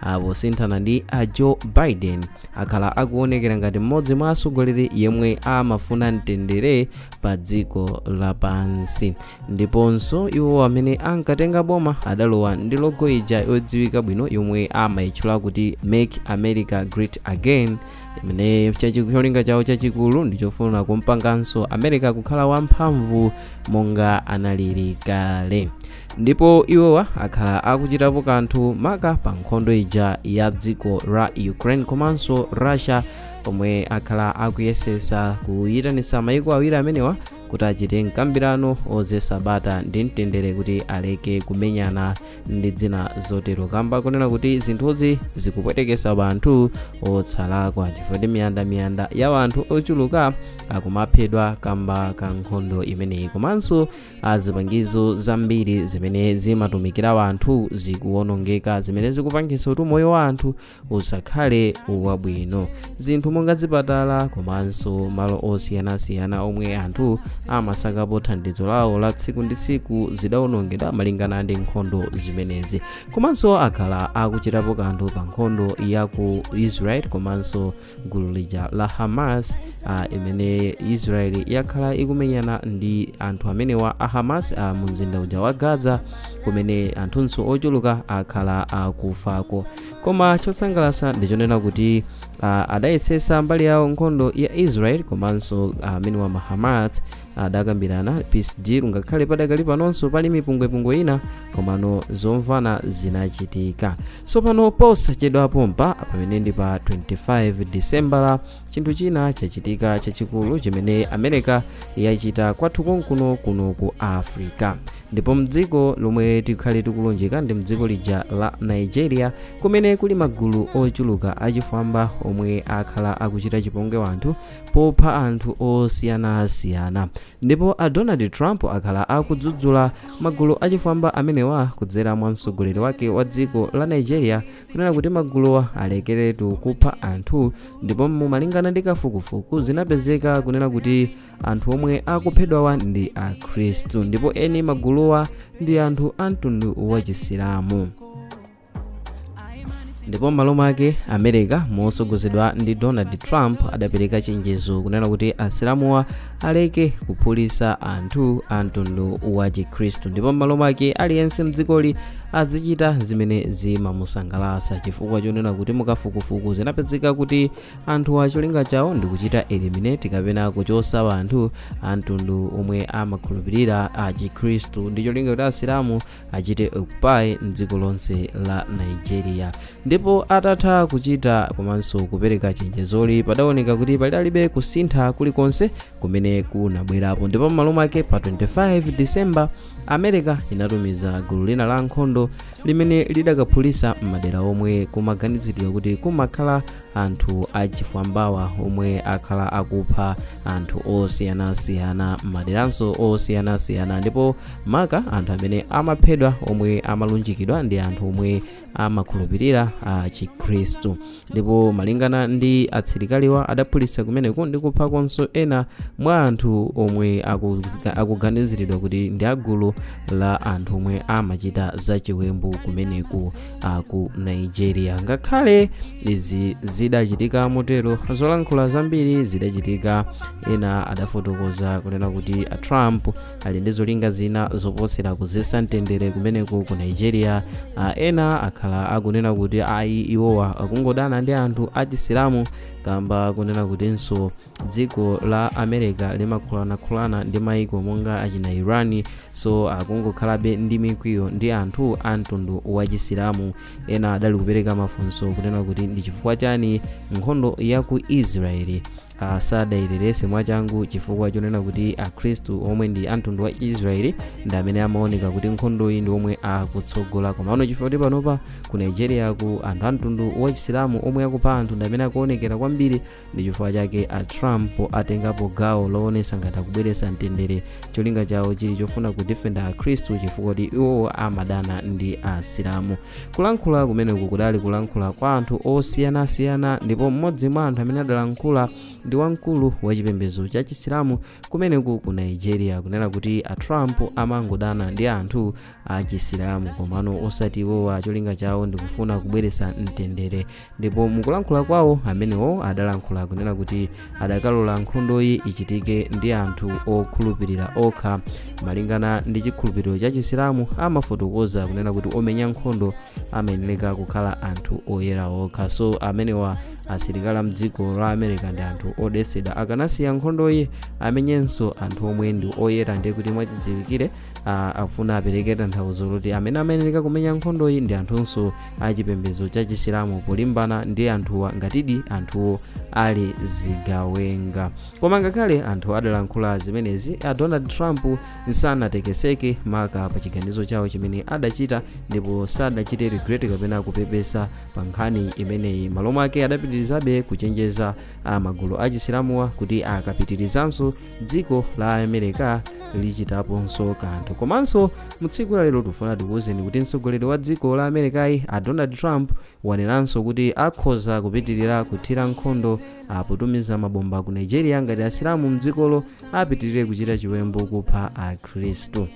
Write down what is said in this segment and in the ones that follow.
apo sinthana ndi a joe biden akhala akuonekera ngati mmodzi mwa atsogoleri yemwe amafuna mtendere pa dziko lapansi ndiponso iwo amene ankatenga boma adalowa ndi logo ija yodziwika bwino yomwe amayitchula kuti make america great again imene chachi- cholinga chawo chachikulu ndichofuna kumpanganso america kukhala wamphamvu monga analili kale ndipo iwowa akhala akuchitapo kanthu maka pa nkhondo ija ya dziko la ukraine komanso russia pomwe akhala akuyesesa kuyitanisa mayiko awiri amenewa kuti achite mkambirano ozesa bata ndi mtendere kuti aleke kumenyana ndi zina zotero kamba kunena kuti zinthuzi zikupwetekesa banthu osalakwa chifukwa ndi miyanda miyanda ya wanthu ochuluka akumaphedwa kamba ka nkhondo imeneyi komanso a zipangizo zambiri zimene zimatumikira wanthu zikuwonongeka zimene zikupangitsa kuti moyo wa anthu usakhale wabwino zinthu monga zipatala komanso malo osiyanasiyana omwe anthu amasakapo thandizo lawo la tsiku ndi tsiku zidawonongedwa malingana ndi nkhondo zimenezi komanso akhala akuchitapo kanthu pa nkhondo ya ku israel komanso gulu lija la hamas uh, imene israel yakhala ikumenyana ndi anthu amenewa a hamas uh, mu mzinda uja wa gaza kumene anthunso ochuluka akhala akufako koma chosangalasa ndichonena kuti uh, adayesesa mbali yawo nkhondo ya israel komanso amenewa uh, ma hamas adakambirana peace deal ngakhale padakali panonso pali mipungwepungwe ina komano zomvana zinachitika tsopano posachedwa pompa pamene ndi pa 25 disembala chinthu china chachitika chachikulu chimene america yachita kwathu konkuno kuno ku africa ndipo mdziko lomwe tikhale tikulunjika ndi mdziko lija la nigeria kumene kuli magulu ochuluka achifwamba omwe akhala akuchita chipongwe wanthu popha anthu osiyanasiyana ndipo a donald trump akhala akudzudzula magulu achifwamba amenewa kudzera mwa mtsogoleri wake wa dziko la nigeria kunena kuti maguluwa alekeretu kupha anthu ndipo mumalingana ndi kafukufuku zinapezeka kunena kuti anthu omwe akuphedwawa ndi akhristu ndipo eni maguluwa ndi anthu a mtundu wachisilamu ndipo m'malo mwake america mosogozedwa ndi donald trump adapereka chenjezo kunena kuti asilamuwa aleke kuphulisa anthu a mtundu wa chikhristu ndipo m'malo mwake aliyense mdzikoli azichita zimene zimamusangalasa chifukwa chonena kuti mukafukufuku zinapezeka kuti anthuwa cholinga chawo ndi kuchita eliminate kapena kuchosa anthu a mtundu omwe amakhulupirira a chikhristu ndi cholinga kuti asilamu achite occupy mdziko lonse la nigeria ndipo atatha kuchita komanso kupereka chenjezoli padaoneka kuti padalibe kusintha kulikonse kumene kunabwerapo ndipo m'malo mwake pa 25 december america inatumiza gulu lina la nkhondo limene lidakaphulisa m'madera omwe kumaganiziridwa kuti kumakhala anthu achifwambawa omwe akhala akupha anthu osiyanasiyana m'maderanso osiyanasiyana ndipo maka anthu amene amaphedwa omwe amalunjikidwa ndi anthu omwe amakhulupirira a chikhristu ndipo malingana ndi asilikaliwa adaphulitsa kumeneko ndi kuphako ena mwa anthu omwe akuzika- akuganiziridwa kuti ndi agulu la anthu omwe amachita zachiwembu kumeneko ku nigeria ngakhale izi zidachitika motero zolankhula zambiri zidachitika ena adafotokoza kunena kuti a trump ali ndi zolinga zina zoposera kudzetsa mtendere kumeneko ku nigeria a ena akhala akunena kuti ayi iwowa akungodana ndi anthu achisilamu kamba kunena kutinso dziko la america limakhulana-khulana ndi maiko monga achina iran so akungokhalabe ndi mikwiyo ndi anthu a mtundu wa chisilamu ena adali kupereka mafunso kunena kuti ndi chifukwa chani nkhondo ya ku israeli uh, sadailetse mwachangu chifukwa chonena kuti akhristu omwe ndi amtundu wa israeli ndi amene amaoneka kuti nkhondoyi ndi omwe akutsogola komano chifukwa kuti panopa ku nigeriako anthu amtundu wa chisilamu omwe akupha anthu ndi amene akuonekera kwambiri ndi chifukwa chake a trump atengapo gawo loonetsa ngati akubweretsa mtendere cholinga chawo chili chofuna kudifenda akhristu chifukwa kuti iwowo amadana ndi asilamu kulankhula kumeneku kudali kulankhula kwa anthu osiyanasiyana ndipo mmodzi mwa anthu amene adalankhula ndi wamkulu wa chipembedzo cha chisilamu kumeneku ku nigeria kunena kuti a trump amangodana ndi anthu a chisilamu komano osati iwowa cholinga chawo ndikufuna kubweretsa mtendere ndipo mukulankhula kwawo amenewo adalankhula kunena kuti adakalola nkhondoyi ichitike ndi anthu okhulupirira okha malingana ndi chikhulupiriro cha chisilamu amafotokoza kunena kuti omenya nkhondo amayeneleka kukhala anthu oyera okha so amenewa asilikali amdziko la america ndi anthu odetsedwa akanasiya nkhondoyi amenyenso anthu omwe ndi oyera ndiye kuti mwachidziwikire ah, afuna apereke tanthauzo loti amene amayeneleka kumenya nkhondoyi ndi anthunso achipembedzo cha chisilamu polimbana ndi anthuwa ngatidi anthuwo ali zigawenga koma ngakhale anthu adalankhula zimenezi a donald trump sanatekeseke maka pa chiganizo chawo chimene adachita ndipo sadachite regret kapena kupepesa pa nkhani imeneyi malo mwake adapitirizabe kuchenjeza magulu a chisilamuwa kuti akapitirizanso dziko la america lichitaponso kanthu komanso mutsiku lalero tifuna tikuwuzeni kuti mtsogoleri wa dziko la americayi a donald trump wanenanso kuti akhoza kupitirira kuthira nkhondo potumiza mabomba ku nigeria ngati asilamu mdzikolo apitirire kuchita chiwembu kupha akhristu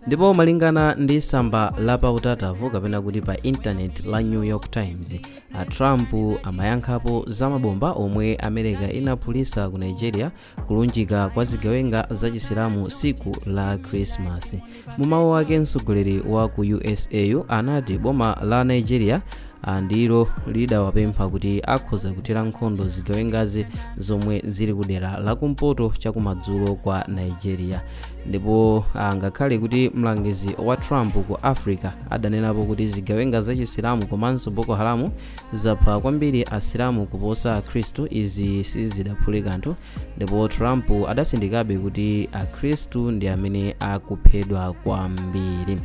ndipo malingana ndi samba la pa utatavu kapena kuti pa intaneti la new york times a trump amayankhapo za mabomba omwe america inaphulisa ku nigeria kulunjika kwa zigawenga za chisilamu tsiku la krismasi mu mawu ake mtsogoleri wa ku usayu anati boma la nigeria ah, ndilo lidawapempha kuti akhoza kuthira nkhondo zigawengazi zomwe zili ku dera la kumpoto chakumadzulo kwa nigeria ndipo ah, ngakhale kuti mlangizi wa trump ku africa adanenapo kuti zigawenga za chisilamu komanso boko haramu zapha kwambiri asilamu kuposa akhristu izi sizidaphule kanthu ndipo trump adasindikabe kuti akhristu ndi amene akuphedwa kwambiri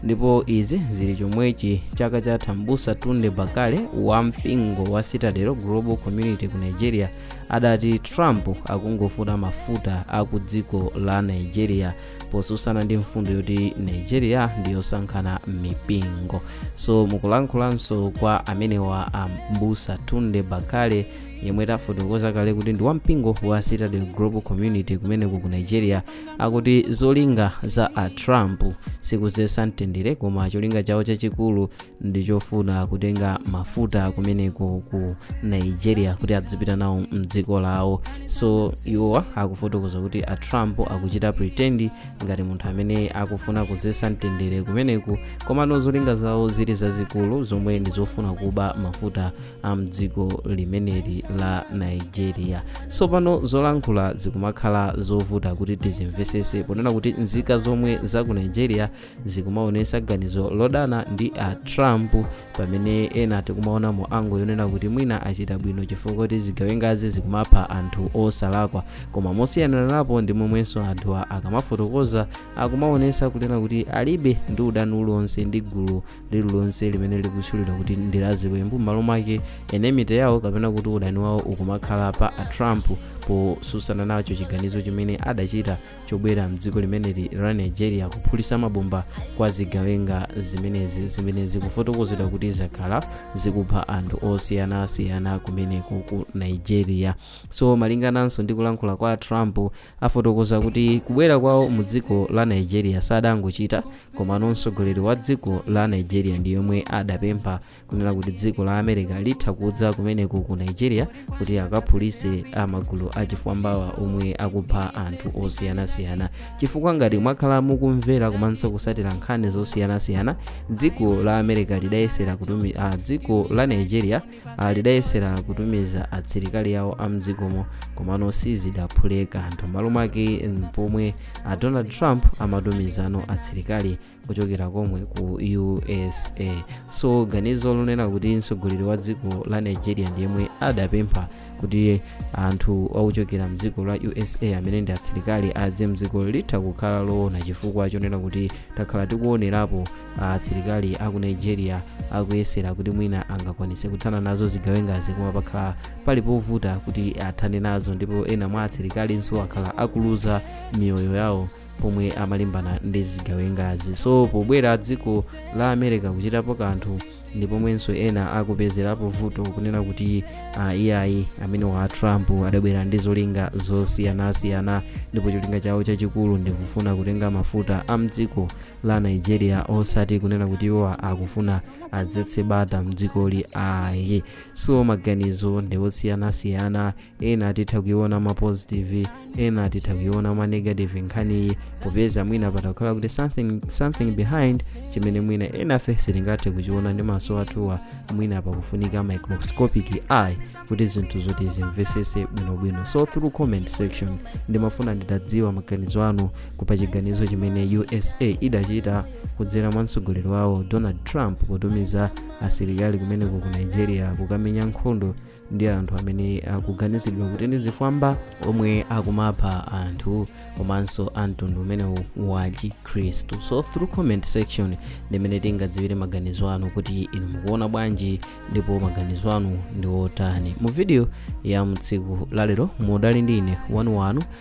ndipo izi zili chomwechi chaka chatha mbusa tunde bakare wa mpingo wa citadel global community ku nigeria adati trump akungofuna mafuta aku dziko la nigeria posusana ndi mfundo yoti nigeria ndiyosankhana mipingo so mukulankhulanso kwa amenewa a mbusa tunde bakare yemwe tafotokoza kale kuti ndi wampingo wa citadel global community kumeneku ku nigeria akuti zolinga za a trump sikuzesa mtendere koma cholinga chawo chachikulu ndichofuna kutenga mafuta kumeneku ku nigeria kuti adzipita nawo mdziko lawo so iwowa akufotokoza kuti a trump akuchita pretend ngati munthu amene akufuna kuzesa mtendere kumeneku komano zolinga zawo zili zazikulu zomwe ndi zofuna kuba mafuta a mdziko limeneli la nigeria so pano zolankhula zikumakhala zovuta kuti tizimvesese ponena kuti nzika zomwe za ku nigeria zikumaonesa ganizo lodana ndi a trump pamene ena tikumaona mu angle yonena kuti mwina achita bwino chifukwa choti zigawengazi zikumapha anthu osalakwa koma mosiyananapo ndi momwenso anthuwa akamafotokoza akumaonesa kunena kuti alibe ndi udani uliwonse ndi gulu lililonse limene likutchulidwa kuti ndi laziwembu m'malo mwake enmity yawo kapena kuti udani wawo ukumakhala pa a trump posusana nacho chiganizo chimene adachita chobwera mdziko limeneli la nigeria kuphulisa mabomba kwa zigawenga zimenezi zimene zikufotokozedwa kuti zakhala zikupha anthu osiyanasiyana kumeneko ku nigeria so malingananso ndi kulankhula kwa trump afotokoza kuti kubwera kwawo mu dziko la nigeria sadangochita komano mtsogoleri wa dziko la nigeria ndi yemwe adapempha kunena kuti dziko la america litha kudza kumeneko ku nigeria kuti akaphulise amagulu achifwambawa omwe akupha anthu osiyanasiyana chifukwa ngati mwakhala mukumvera komanso kusatira nkhani zosiyanasiyana dziko la america lidayesera kutumi ah, dziko la nigeria ah, lidayesera kutumiza atsilikali awo a mdzikomo komano sizidaphule kanthu m'malo mwake mm, pomwe a donald trump amatumizano atsilikali kuchokera komwe ku usa so ganizo lonena kuti mtsogoleri wa dziko la nigeria ndi yemwe adapempha kuti anthu akuchokera mdziko la usa amene ndi atsilikali adze mdziko litha kukhala loona chifukwa chonena kuti takhala tikuonerapo atsilikali aku nigeria akuyesera kuti mwina angakwanise kuthana nazo zigawengazi koma pakhala pali povuta kuti athane nazo ndipo ena mwa atsilikalinso akhala akuluza miyoyo yawo pomwe amalimbana ndi zigawengazi so pobwera dziko la america kuchitapo kanthu ndi pomwenso ena akupezerapo vuto kunena kuti uh, iyayi amenewa a trump adabwera ndi zolinga zosiyanasiyana ndipo cholinga chawo chachikulu ndikufuna kutenga mafuta a mdziko la nigeria osati kunena kuti iwo akufuna adzetse bata mdzikoli ayi so maganizo ndi osiyanasiyana ena titha kuiona mwa positive ena titha kuiona mwa negative nkhaniyi popeza mwina patha kukhala kuti something behind chimene mwina enafe sitingathe kuchiona ndi maso athuwa mwina pakufunika microscopic eye kuti zinthu zoti zimvesese bwinobwino so through comment section ndimafuna nditadziwa maganizo anu kupa chiganizo chimene usa idachita kudzera mwa mtsogoleri wawo donald trump potumiza asilikali kumeneko ku nigeria kukamenya nkhondo ndi anthu amene akuganizidwa kuti ndi zifwamba omwe akumapha anthu komanso amtundu umenewu wa chikhristu so through comment section ndi mmene tingadziwire maganizo anu kuti inu mukuona bwanji ndipo maganizo anu ndi otani mu video ya mtsiku lalero mudali ndi ine wanu wanu